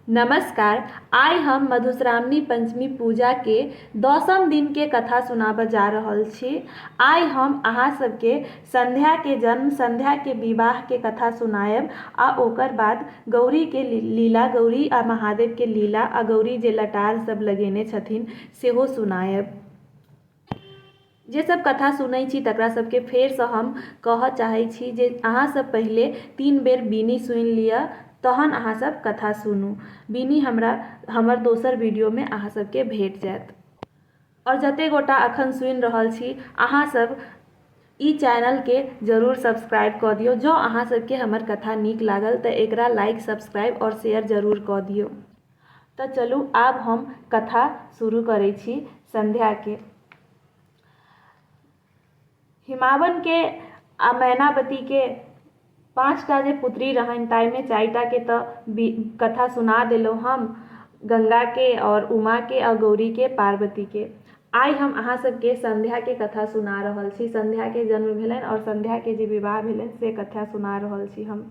नमस्कार, आइ हम मधुश्रावणी पंचमी पूजा के दसम दिन के कथा सुनाबय जा रहल छी। आइ हम अहां सब के संध्या के जन्म, संध्या के विवाह के कथा सुनायब आ ओकर बाद गौरी के लीला, गौरी आ महादेव के लीला आ गौरी जे लटार सब लगेने छथिन्ह सेहो सुनायब। जे सब कथा सुनै छी तकरा सबके फेर सं हम कहय चाहै छी जे अहां सब पहिले तीन बेर बीनी सुनि लिअ तहन अहां सब कथा सुनु। बीनी हमरा हमर दोसर वीडियो मे अहां सब के भेट जायत। और जते गोटा अखन सुनि रहल छी अहां सब इ चैनल के जरूर सब्सक्राइब क दियो। जं अहां सब के हमर कथा नीक लागल त एकरा लाइक, सब्सक्राइब और शेयर जरूर क दियो। त चलू आब हम कथा शुरू करै छी संध्या के। हिमावन के आ मैनावती के पाँच टा जे पुत्री रहनि ताहि मे चारि टा के त कथा सुना देलहुँ हम, गंगा के आओर उमा के आ गौरी के, पार्वती के। आइ हम अहाँ सब के संध्या के कथा सुना रहल छी। संध्या के जन्म भेलनि आओर संध्या के जे विवाह भेलनि से कथा सुना रहल छी हम।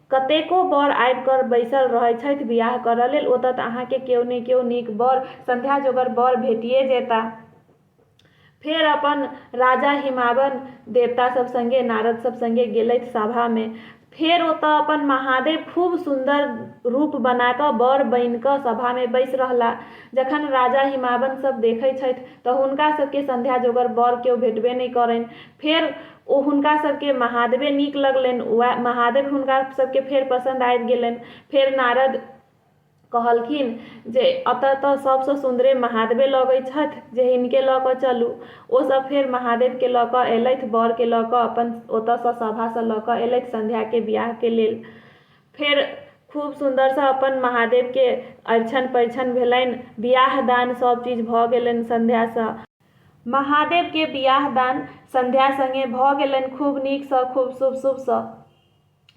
कतेको बर आबि कऽ बैसल रहैत छथि बिआह करऽ लेल। ओतऽ तँ अहाँकेँ केओ ने केओ नीक बर, संध्या जोगर बर भेटिये जेताह। फेर अपन राजा हिमावन, देवता सभ संगे, नारद सभ संगे गेलथि सभामे। फेर ओतऽ अपन महादेव खूब सुन्दर रूप बना कऽ बर बनि कऽ सभामे बैसि रहलाह। जखन राजा हिमावन सभ देखैत छथि तँ हुनका सभकेँ संध्या जोगर बर केओ भेटबे नहि करनि। फेर। ओ हुनका सभकेँ महादेवे नीक लगलैन। वएह महादेव हुनका सभकेँ फेर पसन्द आबि गेलैन। फेर नारद कहलखिन जे अतए तँ सभसँ सुन्दरे महादेवे लगै छथि जे हिनके लऽ कऽ चलू। ओ सभ फेर महादेवकेँ लऽ कऽ एलथि। बरकेँ लऽ कऽ अपन ओतएसँ सभासँ लऽ कऽ एलथि संध्याकेँ बिआहकेँ लेल। फेर खूब सुन्दरसँ अपन महादेवकेँ अरिछन परिछन भेलैन। बिआह दान सभ चीज भऽ गेलैन संध्यासँ। महादेव के बियाह दान संध्या संगे भऽ गेलनि खूब नीक सँ खूब शुभ शुभ सँ।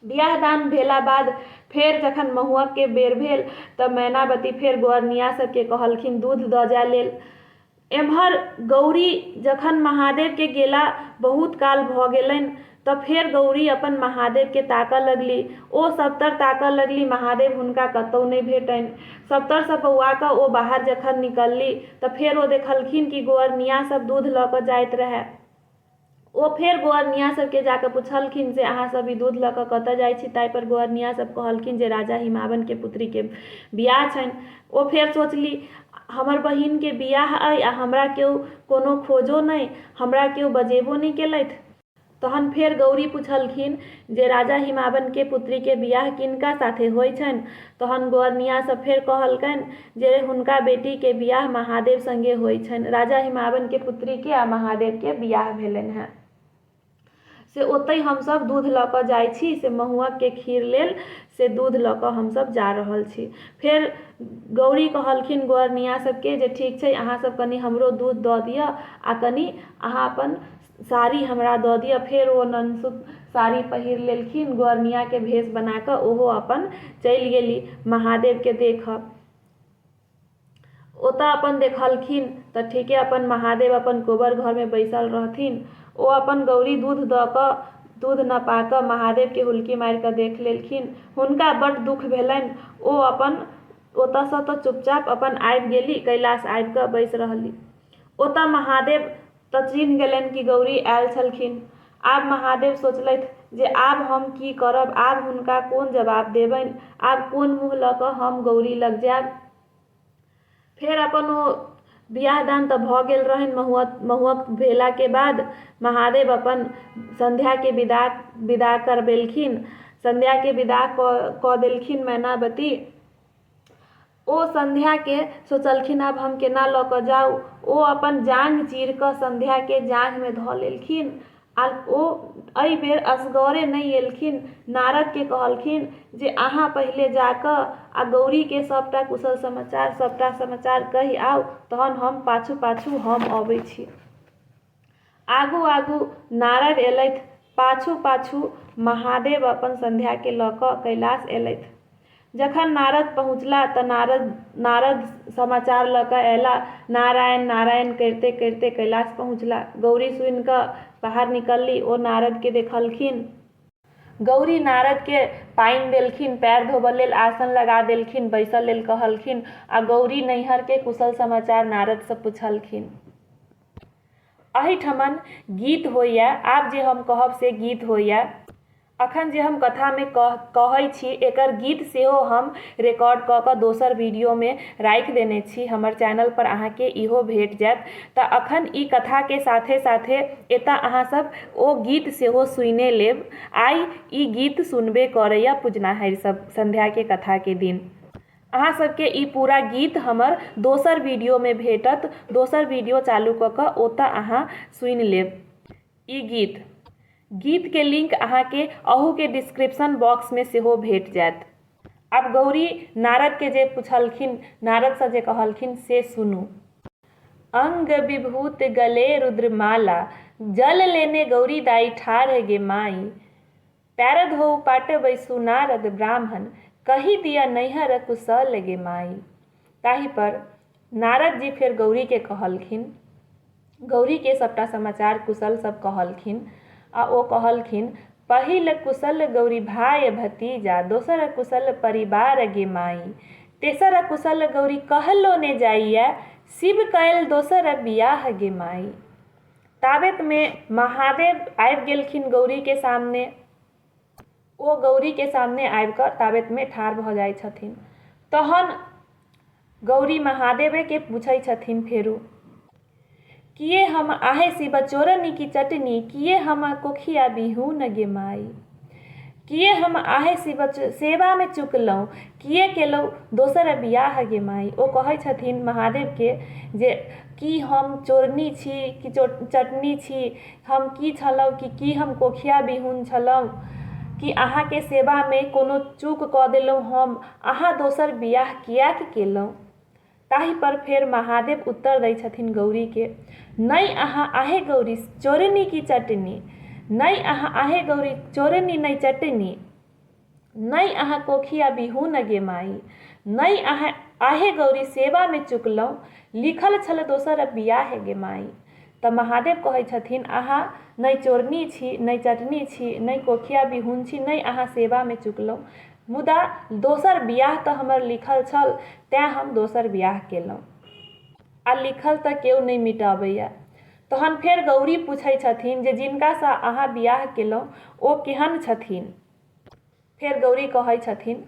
बियाह दान भेला बाद फेर जखन महुअक के बेर भेल तऽ मैनावती फेर गोअरनिया सब के कहलखिन दूध दऽ जाय लेल। एम्हर गौरी जखन महादेव के गेला बहुत काल भऽ गेलनि त फेर गौरी अपन महादेव केँ ताकय लगली। ओ सभतर ताकय लगली महादेव हुनका कतौ नहि भेटनि। सभतर सँ बौआ क ओ बाहर जखन निकलली त फेर ओ देखलखिन कि गोअरनिया सभ दूध ल क जाइत रहय। ओ फेर गोअरनिया सभ केँ जा क पुछलखिन जे अहाँ सभ ई दूध ल क कतय जाइत छी ताहि पर गोअरनिया सभ कहलखिन जे राजा हिमावन केँ पुत्री केँ बियाह छनि। ओ फेर सोचली हमर बहिन केँ बियाह अइ आ हमरा केओ कोनो खोजो नहि, हमरा केओ बजेबो नहि केलथि। तहन फेर गौरी पुछलखिन जे राजा हिमावन के पुत्री के बियाह किनका साथे होइ छनि? तहन गोअरनिया सब फेर कहलकनि जे हुनका बेटी के बियाह महादेव संगे होइ छनि। राजा हिमावन के पुत्री के आ महादेव के बियाह भेलनि हें। से ओतहि हम सब दूध ल क जाइ छी। से महुअक के खीर लेल से दूध ल क हम सब जा रहल छी। फेर गौरी कहलखिन गोअरनिया सब के जे ठीक छइ अहाँ सब कनी हमरो दूध द दिअ आ कनी अहाँ अपन। साड़ी हमरा दऽ दिअ फेर ओ ननसुत साड़ी पहिर लेलखिन गोअर्नियाके भेष बना कऽ ओहो अपन चलि गेली महादेवके देखऽ ओतऽ अपन देखलखिन तऽ ठीके अपन महादेव अपन कोबर घरमे बैसल रहथिन ओ अपन गौरी दूध दऽ कऽ दूध न पा कऽ महादेवके हुलकी मारि कऽ देख लेलखिन हुनका बड्ड दुःख भेलनि ओ अपन ओतऽसँ तऽ चुपचाप अपन आबि गेली कैलाश आबि कऽ बैस रहली ओतऽ महादेव तँ चिन्ह गेलैन कि गौरी आएल छलखिन। आब महादेव सोचलैथ जे आब हम की करब? आब हुनका कोन जबाब देबैन? आब कोन मुँह लऽ कऽ हम गौरी लग जाएब? फेर अपन ओ बिआह-दान तँ भऽ गेल रहैन। महुअक भेलाकेँ बाद महादेव अपन संध्याकेँ विदा विदा करबेलखिन। संध्याकेँ विदा कऽ कऽ देलखिन मैनावती। ओ संध्याकेँ सोचलखिन आब हम केना लऽ कऽ जाउ? ओ अपन जांघ चीरि कऽ संध्याकेँ जांघमे धऽ लेलखिन आ ओ एहि बेर असगरे नहि एलखिन। नारदकेँ कहलखिन जे अहाँ पहिले जा कऽ आ गौरीकेँ सभटा कुशल समाचार, सभटा समाचार कहि आउ तहन हम पाछू-पाछू हम अबै छी। आगू-आगू नारद एलथि, पाछू-पाछू महादेव अपन संध्याकेँ लऽ कऽ कैलास एलथि। जखन नारद पहुँचला तँ नारद नारद समाचार लऽ कऽ अयला। नारायण नारायण करिते करिते कैलास पहुँचला। गौरी सुनि कऽ बाहर निकलली। ओ नारदकेँ देखलखिन। गौरी नारदकेँ पानि देलखिन, पएर धोबऽ लेल आसन लगा देलखिन, बैसऽ लेल कहलखिन आ गौरी नैहरकेँ कुशल समाचार नारदसँ पुछलखिन। अहिठमन गीत होइए आब जे हम कहब से गीत होइए अखन जे हम कथामे कह कहै छी एकर गीत सेहो हम रिकॉर्ड कऽ कऽ दोसर वीडियोमे राखि देने छी हमर चैनल पर अहाँके इहो भेट जायत तऽ अखन ई कथाके साथे साथे एतऽ अहाँ सब ओ गीत सेहो सुनिए लेब आइ ई गीत सुनबे करैए पुजनाहरि सब संध्याके कथाके दिन अहाँ सबके ई पूरा गीत हमर दोसर वीडियो मे भेटत दोसर वीडियो चालू कऽ कऽ ओतऽ अहाँ सुनि लेब ई गीत गीत के लिंक अहाँ के अहू के डिस्क्रिप्शन बॉक्स मे सेहो भेट जायत आब गौरी नारद के जे पुछलखिन नारद सँ जे कहलखिन से सुनू अंग विभूत गले रुद्रमाला जल लेने गौरी दाई ठाढ़ गे माई पैर धोउ पाटे बैसु नारद ब्राह्मण कहि दिअ नैहर कुशल गे माई। ताहि पर नारद जी फेर गौरी के कहलखिन। गौरी के सबटा समाचार कुशल सब कहलखिन आ ओ कहलखिन पहिल कुशल गौरी भाय भतीजा दोसर कुशल परिवार गे माई। तेसर कुशल गौरी कहलो ने जाइए शिव कएल दोसर बियाह गे माई। ताबेतमे महादेव आबि गेलखिन गौरीके सामने ओ गौरीके सामने आबिकऽ ताबेतमे ठाढ़ भऽ जाइ छथिन तहन गौरी महादेवेके पूछै छथिन फेरो किए हम आहे शिव चोरनी की चटनी किए हम कोखिया बिहू न गे माई किए हम आहे सेवामे चुकलहुँ किए केलहुँ दोसर बिआह गे माइ ओ कहै छथिन महादेवके जे कि हम चोरनी छी कि चटनी छी हम कि छलहुँ कि कि हम कोखिआ बिहुन छलहुँ कि अहाँके सेवामे कोनो चूक कऽ देलहुँ हम अहाँ दोसर बिआह किएक केलहुँ ताहि पर फेर महादेव उत्तर दै छथिन गौरी के नहि अहाँ आहे गौरी चोरनी की चटनी नहि अहाँ आहे गौरी चोरनी नहि चटनी नहि अहाँ कोखिया बिहू न गे माई नहि अहाँ आहे गौरी सेवा में चुकलहुँ लिखल छल दोसर बियाह है गे माई तऽ महादेव कहै छथिन अहाँ नहि चोरनी छी नहि चटनी छी नहि कोखिया बिहुन छी नहि अहाँ सेवा में चुकलहुँ मुदा दोसर बिआह तऽ हमर लिखल छल तैँ हम दोसर बिआह केलहुँ। आ लिखल तऽ केओ नहि मिटबैए। तहन फेर गौरी पुछैत छथिन जे जिनकासँ अहाँ बिआह केलहुँ ओ केहन छथिन? फेर गौरी कहैत छथिन,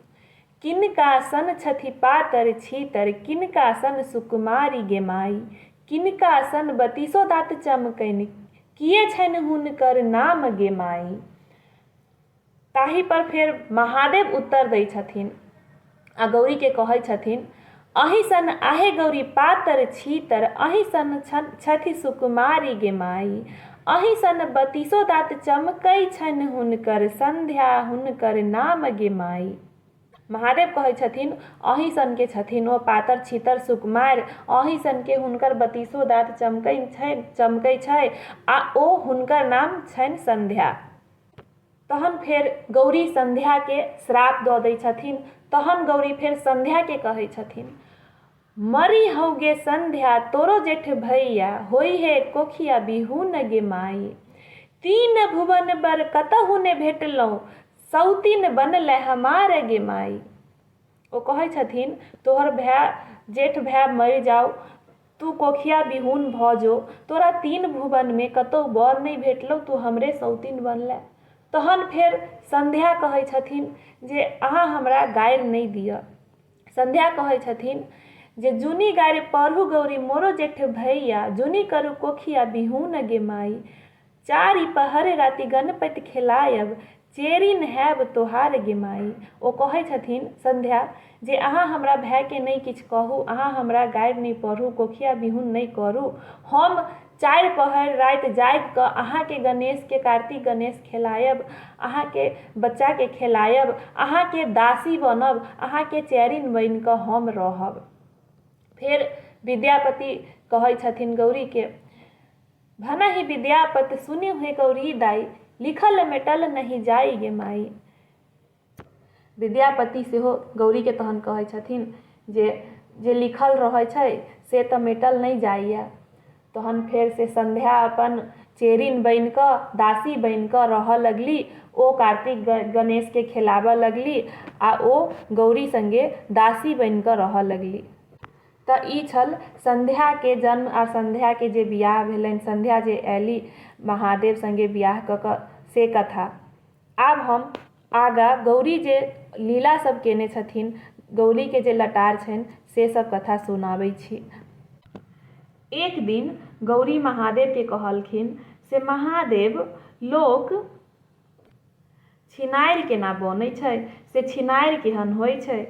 किनका सन छथि पातर-छीतर किनका सन सुकुमारि गे माइ। किनका सन बतीसो दाँत चमकनि किए छनि हुनकर नाम गे माइ। ताहि पर फेर महादेव उत्तर दै छथिन आ गौरी के कहै छथिन अही सन आहे गौरी पातर छीतर अही सन छथि सुकुमारी गे माई अही सन बतीसो दात चमकै छनि हुनकर संध्या हुनकर नाम गे माई महादेव कहै छथिन अही सन के छथिन ओ पातर छीतर सुकुमार अही सन के हुनकर बतीसो दात चमकै छै चमकै छै आ ओ हुनकर नाम छनि संध्या तहन फेर गौरी संध्याके श्राप दऽ दै छथिन तहन गौरी फेर संध्याके कहै छथिन मरी हौगे संध्या तोरो जेठ भैया होइ हे कोखिया बिहून गे माई तीन भुवन बर कतहु ने भेटलहुँ सौतिन बनल हमार गे माई ओ कहै छथिन तोहर भाय जेठ भाय मरि जाउ तूँ कोखिया बिहुन भऽ जो। तोरा तीन भुवनमे कतहु बर नहि भेटलौ तूँ हमरे सौतिन बनलैं। तहन फेर संध्या कहै छथिन जे अहाँ हमरा गारि नहि दिअ। संध्या कहै छथिन जे जुनि गारि पढ़ू गौरी मोरो जेठ भैया जुनि करू कोखिया बिहुन गे माइ। चारि पहर राति गणपति खेलायब चेरि नहायब तोहार गे माइ। ओ कहै छथिन संध्या जे अहाँ हमरा भायकेँ नहि किछु कहू, अहाँ हमरा गारि नहि पढ़ू, कोखिया बिहुन नहि करू। हम चारि पहर राति जागि कऽ अहाँकेँ गणेशकेँ, कार्तिक गणेश खेलायब, अहाँकेँ बच्चाकेँ खेलायब, अहाँकेँ दासी बनब, अहाँकेँ चेरिन बनि कऽ हम रहब। फेर विद्यापति कहै छथिन गौरीकेँ। भनहि विद्यापत सुनि हे गौरी दाई लिखल मेटल नहि जाइ गे माई विद्यापति सेहो गौरीके तहन कहै छथिन जे जे लिखल रहै छै से तऽ मेटल नहि जाइए तहन फेर से संध्या अपन चेरिन बनि कऽ दासी बनि कऽ रहऽ लगली ओ कार्तिक गणेशके खेलाबऽ लगली आ ओ गौरी संगे दासी बनि कऽ रहऽ लगली तँ ई छल संध्याकेँ जन्म आ संध्याकेँ जे बिआह भेलनि, संध्या जे अएली महादेव संगे बिआह कऽ कऽ से कथा। आब हम आगाँ गौरी जे लीला सभ केने छथिन, गौरीकेँ जे लटार छनि से सभ कथा सुनाबै छी। एक दिन गौरी महादेवकेँ कहलखिन से महादेव लोक छिनारि केना बनै छै? से छिनारि केहन होइ छै?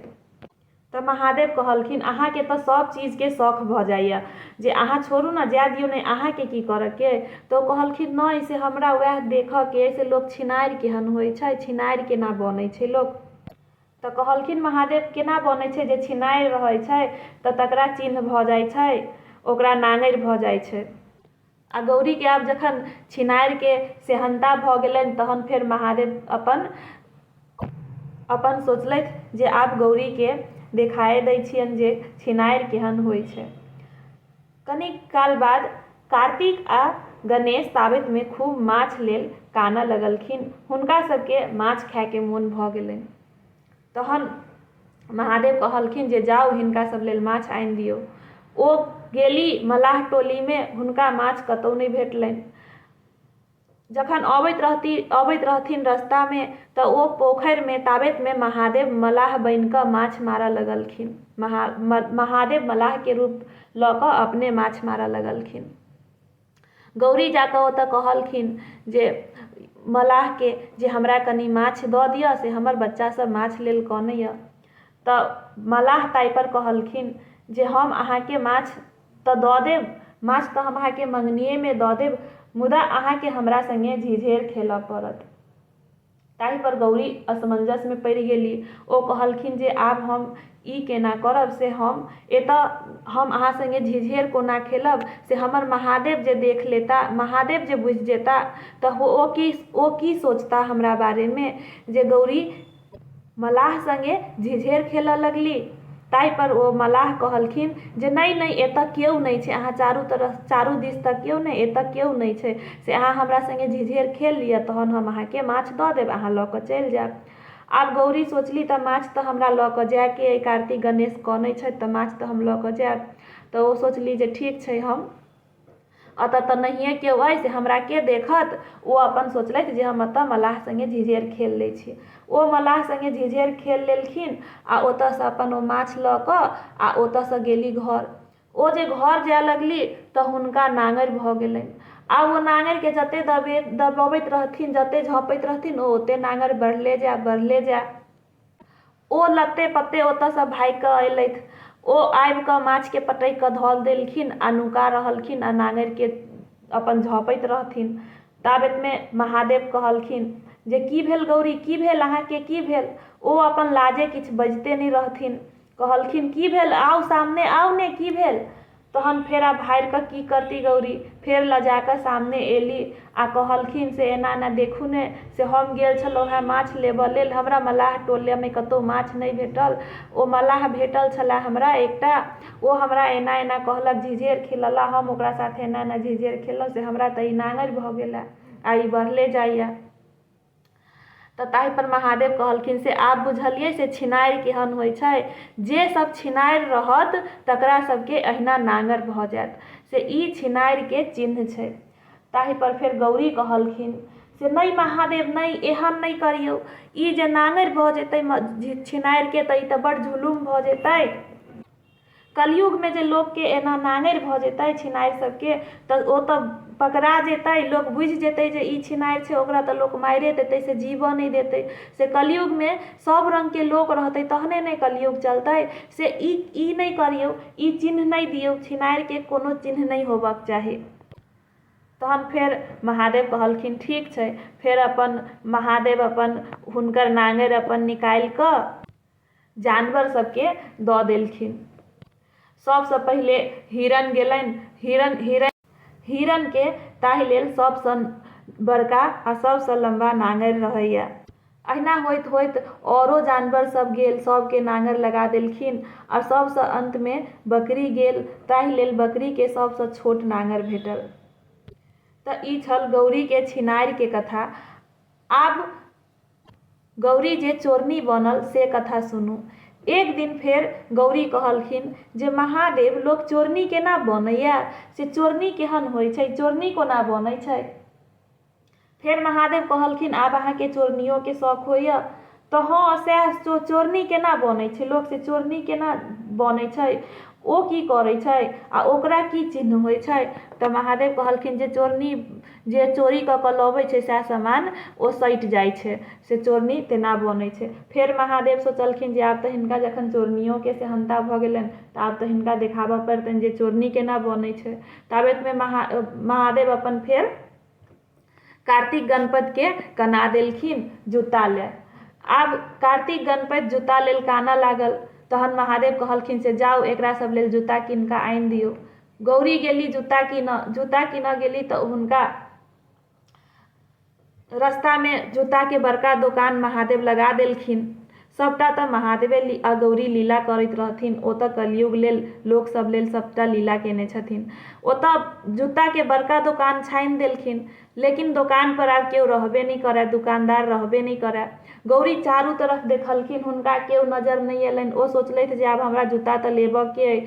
त महादेव कहलखिन, अहाँ के त सब चीज के सौख भ जाइए, जे अहाँ छोड़ू न, जाए दियौ नहि, अहाँ के की करय के? त ओ कहलखिन, नहि, से हमरा वैह देखय के अइ, से लोक छिनारि केहन होइत छै, छिनारि केना बनैत छै लोक? त कहलखिन महादेव, केना बनैत छै, जे छिनारि रहैत छै, त तकरा चिन्ह भ जाइत छै, ओकरा नाङरि भ जाइत छै। आ गौरीकेँ आब जखन छिनारिके सेहन्ता भऽ गेलनि तहन फेर महादेव अपन अपन सोचलथि जे आब गौरीकेँ देखाए दै छियनि जे छिनारि केहन होइ छै। कनिक काल बाद कार्तिक आ गणेश ताबेतमे खूब माछ लेल कानऽ लगलखिन। हुनका सभकेँ माछ खाएके मोन भऽ गेलनि। तहन महादेव कहलखिन जे जाउ हिनका सब लेल माछ आनि दियौ ओ गेली मलाह टोलीमे हुनका माछ कतहु नहि भेटलनि जखन अबैत रहती अबैत रहथिन रस्तामे तऽ ओ पोखरिमे ताबेतमे महादेव मलाह बनि कऽ माछ मारऽ लगलखिन महा महादेव मलाहके रूप लऽ कऽ अपने माछ मारऽ लगलखिन गौरी जा कऽ ओतय कहलखिन जे मलाहके जे हमरा कनि माछ दऽ दिअ से हमर बच्चासभ माछ लेल कनैए तऽ मलाह ताहिपर कहलखिन जे हम अहाँके माछ तऽ दऽ देब माछ तऽ हम अहाँके मङ्गनिएमे दऽ देब मुदा अहाँके हमरा सङ्गे झिझेर खेलय पड़त ताहि पर गौरी असमंजस मे पड़ि गेली। ओ कहलखिन जे आब हम ई केना करब से हम एतऽ हम अहाँ संगे झिझेर कोना खेलब से हमर महादेव जे देख लेता, महादेव जे बुझि जेता तऽ ओ की ओ की सोचता हमरा बारे मे जे गौरी। मलाह संगे झिझेर खेलऽ लगली। ताहि पर ओ मलाह कहलखिन जे नहि, नहि, एतऽ केओ नहि छै। अहाँ चारू तरफ, चारू दिस तँ केओ नहि, एतऽ केओ नहि छै। से अहाँ हमरा संगे झिझेर खेल लिअ, तहन हम अहाँकेँ माछ दऽ देब, अहाँ लऽ कऽ चलि जायब। आब गौरी सोचली तँ माछ तँ हमरा लऽ कऽ जायके अइ, कार्तिक गणेश कनै छथि तँ माछ तँ हम लऽ कऽ जायब। तँ ओ सोचली जे ठीक छै, हम। अतऽ तँ नहियँ केओ अइ से हमरा के देखत। ओ अपन सोचलथि जे हम अतऽ मलाह संगे झिझेर खेल लइ छी। ओ मलाह संगे झिझेर खेल लेलखिन आ ओतऽ सँ अपन ओ माछ लऽ कऽ आ ओतऽ सँ गेली घर। ओ जे घर जाए लगली तँ हुनका नांगरि भऽ गेलनि। आब ओ नांगरि केँ जते दबबैत रहथिन, जते झँपैत रहथिन ओ ओते नांगरि बढ़ले जाए, बढ़ले जाए। ओ लत्ते-पत्ते ओतऽ सँ भागि कऽ अयलथि। ओ आबि कऽ माछ केँ पटकि कऽ धऽ देलखिन आ नुका रहलखिन आ नांगरि केँ अपन झँपैत रहथिन। ताबेत मे महादेव कहलखिन जे की भेल गौरी, की भेल अहाँ केँ की भेल? ओ अपन लाजे किछु बजिते नहि रहथिन। कहलखिन की भेल आउ सामने आउ ने की भेल तहन फेर आब हारिकऽ की करती गौरी फेर लजाकऽ सामने एली आ कहलखिन से एना एना देखू ने से हम गेल छलहुँ हेँ माछ लेबऽ लेल हमरा मलाह टोलमे कतहु माछ नहि भेटल ओ मलाह भेटल छलए हमरा एकटा ओ हमरा एना एना कहलक झिझेर खेलऽला हम ओकरा साथे एना एना झिझेर खेललहुँ से हमरा तऽ ई नाङ्गरि भऽ गेलए आ ई बढ़ले जाइए तऽ ताहि पर महादेव कहलखिन से आब बुझलियै से छिनारि केहन होइ छै जे सब छिनारि रहत तकरा सबके अहिना नांगर भऽ जायत से ई छिनारिके चिन्ह छै ताहि पर फेर गौरी कहलखिन से नहि महादेव नहि एहन नहि करियौ ई जे नांगर भऽ जेतै छिनारिके तऽ ई तऽ बड जुलुम भऽ जेतै कलयुगमे जे लोकके एना नाङ्गरि भऽ जेतै छिनारि सबके तऽ ओ तऽ पकड़ा जेतै लोक बुझि जेतै जे ई छिनारि छै ओकरा तऽ लोक मारिये देतै से जीबऽ नहि देतै से कलयुगमे सब रङ्गके लोक रहतै तहने ने कलयुग चलतै से ई ई नहि करियौ ई चिन्ह नहि दियौ छिनारिके कोनो चिन्ह नहि होबऽके चाही तहन फेर महादेव कहलखिन ठीक छै फेर अपन महादेव अपन हुनकर नाङ्गरि अपन निकालिकऽ जानवर सबके दऽ देलखिन। सबसँ पहिले हिरन गेलनि। हिरन हिरनके ताहि लेल सबसँ बड़का आ सबसँ लम्बा नाङ्गरि रहैए। अहिना होइत होइत औरो जानवर सब गेल। सबके नाङ्गरि लगा देलखिन आ सबसँ अन्तमे बकरी गेल। ताहि लेल बकरीके सबसँ छोट नाङ्गरि भेटल। तँ ई छल गौरीके छिनारिके कथा। आब। गौरी जे चोरनी बनल से कथा सुनू। एक दिन फेर गौरी कहलखिन जे महादेव लोक चोरनी केना बनैए से चोरनी केहन होइ छै, चोरनी कोना बनै छै। फेर महादेव कहलखिन आब अहाँकेँ चोरनियोकेँ सौख होइए तँ हँ सएह चोरनी केना बनै छै लोक से चोरनी केना बनै छै, ओ की करै छै आ ओकरा की चिह्न होइ छै। तँ महादेव कहलखिन जे चोरनी। जे चोरी कऽ कऽ लबै छै सएह समान ओ सटि जाइ छै से चोरनी तेना बनै छै फेर महादेव सोचलखिन जे आब तऽ हिनका जखन चोरनियोके सेहन्ता भऽ गेलनि तऽ आब तऽ हिनका देखाबऽ पड़तनि जे चोरनी केना बनै छै ताबेतमे महा महादेव अपन फेर कार्तिक गणपतिके कना देलखिन जूता लए आब कार्तिक गणपति जूता लेल कानऽ लागल तहन महादेव कहलखिन से जाउ एकरा सब लेल जूता कीन कऽ आनि दियौ गौरी गेली जूता कीनऽ जूता कीनऽ गेली तऽ हुनका रस्तामे जूताके बड़का दोकान महादेव लगा देलखिन सभटा तऽ महादेवे आ गौरी लीला करैत रहथिन ओ तऽ कलयुग लेल लोकसभ लेल सभटा लीला केने छथिन ओतऽ जूताके बड़का दोकान छानि देलखिन लेकिन दोकानपर आब केओ रहबे नहि करय दोकानदार रहबे नहि करय गौरी चारू तरफ देखलखिन हुनका केओ नजर नहि एलनि ओ सोचलथि जे आब हमरा जूता तऽ लेबऽके अइ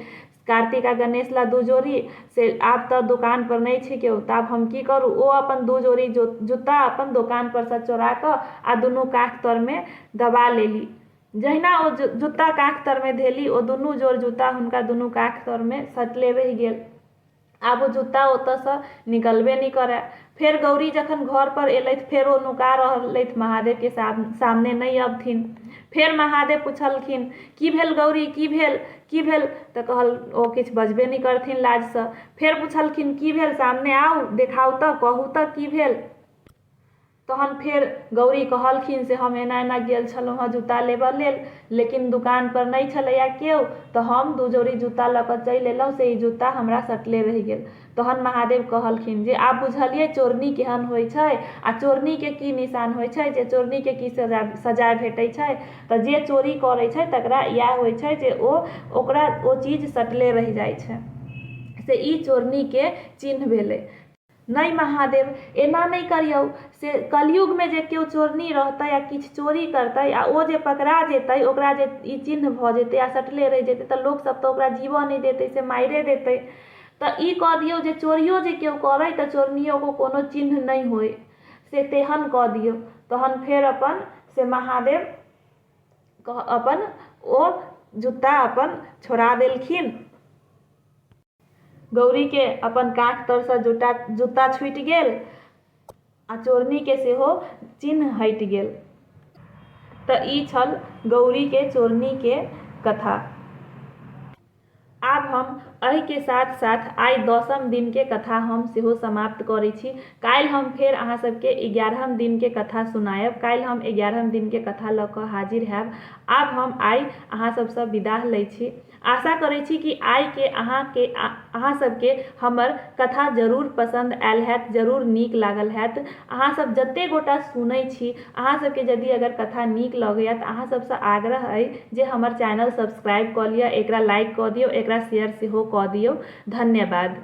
कार्तिक आ गणेश लए दू जोड़ी से आब तऽ दोकान पर नहि छै केओ तऽ आब हम की करू ओ अपन दू जोड़ी जूता अपन दोकान पर सँ चोरा कऽ आ दुनू काख तर मे दबा लेली जहिना ओ जूता काख तर मे धेली ओ दुनू जोड़ जूता हुनका दुनू काख तर मे सटले रहि गेल आब ओ जूता ओतयसँ निकलबे नहि करय। फेर गौरी जखन घरपर एलथि फेर ओ नुका रहलथि महादेवके सामने नहि अबथिन। फेर महादेव पुछलखिन, की भेल गौरी, की भेल? की भेल? तँ कहल ओ किछु बजबे नहि करथिन लाजसँ। फेर पुछलखिन, की भेल सामने आउ, देखाउ तँ, कहू तँ की भेल? तहन फेर गौरी कहलखिन से हम एना एना गेल छलहुँ हँ जूता लेबऽ लेल लेकिन दोकान पर नहि छलैया केओ तऽ हम दू जोड़ी जूता लऽ कऽ चलि एलहुँ से ई जूता हमरा सटले रहि गेल तहन महादेव कहलखिन जे आब बुझलियै चोरनी केहन होइत छै आ चोरनीके की निशान होइत छै जे चोरनीके की सजा सजाय भेटैत छै तऽ जे चोरी करैत छै तेकरा इएह होइत छै जे ओ ओकरा ओ चीज सटले रहि जाइत छै से ई चोरनीके चिन्ह भेलै नहि महादेव! एना नहि करियौ। से कलयुगमे जे केओ चोरनी रहतै आ किछु चोरी करतै आ ओ जे पकड़ा जेतै, ओकरा जे ई चिह्न भऽ जेतै आ सटले रहि जेतै तँ लोक सभ तँ ओकरा जीबए नहि देतै, से मारिए देतै। तँ ई कऽ दियौ जे चोरियो जे केओ करए तँ चोरनियोक कोनो चिह्न नहि होए, से तेहन कऽ दियौ। तहन फेर अपन से महादेव अपन ओ जुत्ता अपन छोड़ा देलखिन। गौरीके अपन काँख तरसँ जूटा जूता छूटि गेल आ चोरनीके सेहो चिन्ह हटि गेल। तऽ ई छल गौरीके चोरनीके कथा। आब हम अहिके साथ साथ आइ दसम दिनके कथा हम सेहो समाप्त करै छी। काल्हि हम फेर अहाँ सभके एगारहम दिनके कथा सुनायब। काल्हि हम एगारहम दिनके कथा लऽ कऽ हाजिर हएब। आब हम आइ अहाँ सभसँ विदाह लै छी। आशा करैत छी कि आइ के अहाँ के आ अहाँ सब के हमर कथा जरूर पसंद आयल हैत, जरूर नीक लागल हैत। अहाँ सब जते गोटा सुनय छी, अहाँ सब के यदि अगर कथा नीक लगैया त अहाँ सब स आग्रह अइ जे हमर चैनल सब्सक्राइब क लिअ, एकरा लाइक क दियौ, एकरा शेयर सेहो क दियौ। धन्यवाद।